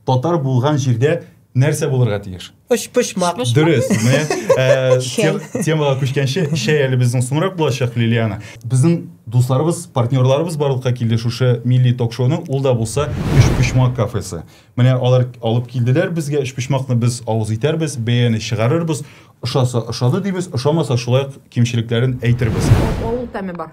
Татар булган җирдә нәрсә булырга тиеш? Очпочмак. Дөрес. Менә темага күчкәнче, чәй әле безнең соңрак булачак, Лилиана. Безнең дусларыбыз, партнерларыбыз барлыкка килде шушы милли ток-шоуның, ул да булса Өчпочмак кафесы. Менә алар алып килделәр безгә, өчпочмакны без авыз итәрбез, бәяне чыгарырбыз, ошаса ошады дибез, ошамаса шулай ук кимчелекләрен әйтербез. Авыл тәме бар.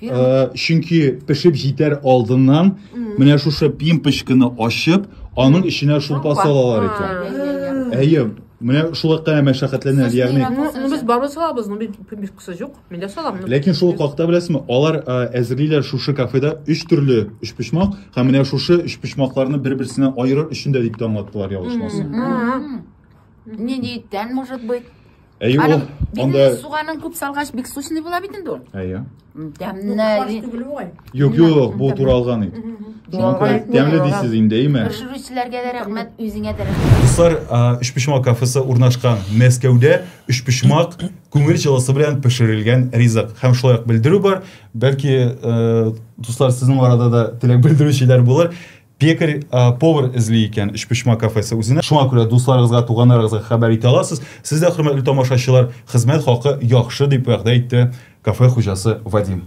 Э, чөнки пешеп җитәр алдыннан менә шушы пимпочканы ачып, аның эченә шулпа салалар икән. Әйе, менә шулай кына мәшәкатьләнә, ягъни. Ну без бармы салабыз, ну бит пимпочкасы юк. Мин дә салам. Ләкин шул хакта беләсезме, алар э, әзерлиләр шушы кафеда өч төрле өч почмак һәм менә шушы өч почмакларны бер-берсеннән аерыр өчен дә дип тә аңлаттылар ялгышмасам. Не диеттән, может быть. Әйе ул анда суганын күп салгач бик сочный була бит инде ул. Әйе. Тәмле. Юк, юк, бу туралган ит. Шуңа тәмле дисез инде, әйме? Пешерүчеләргә дә рәхмәт, үзеңә дә рәхмәт. Дуслар, Өчпочмак кафесы урнашкан Мәскәүдә Өчпочмак күңел җылысы белән пешерелгән ризык һәм шулай ук белдерү бар. Бәлки, дуслар, сезнең арада да теләк белдерүчеләр булыр. Пекарь, повар эзли икән Өчпочма кафесы үзенә. Шуңа күрә дусларыгызга, туганнарыгызга хәбәр итә аласыз. Сез дә, хөрмәтле тамашачылар, хезмәт хакы яхшы, дип вәгъдә итте кафе хуҗасы Вадим.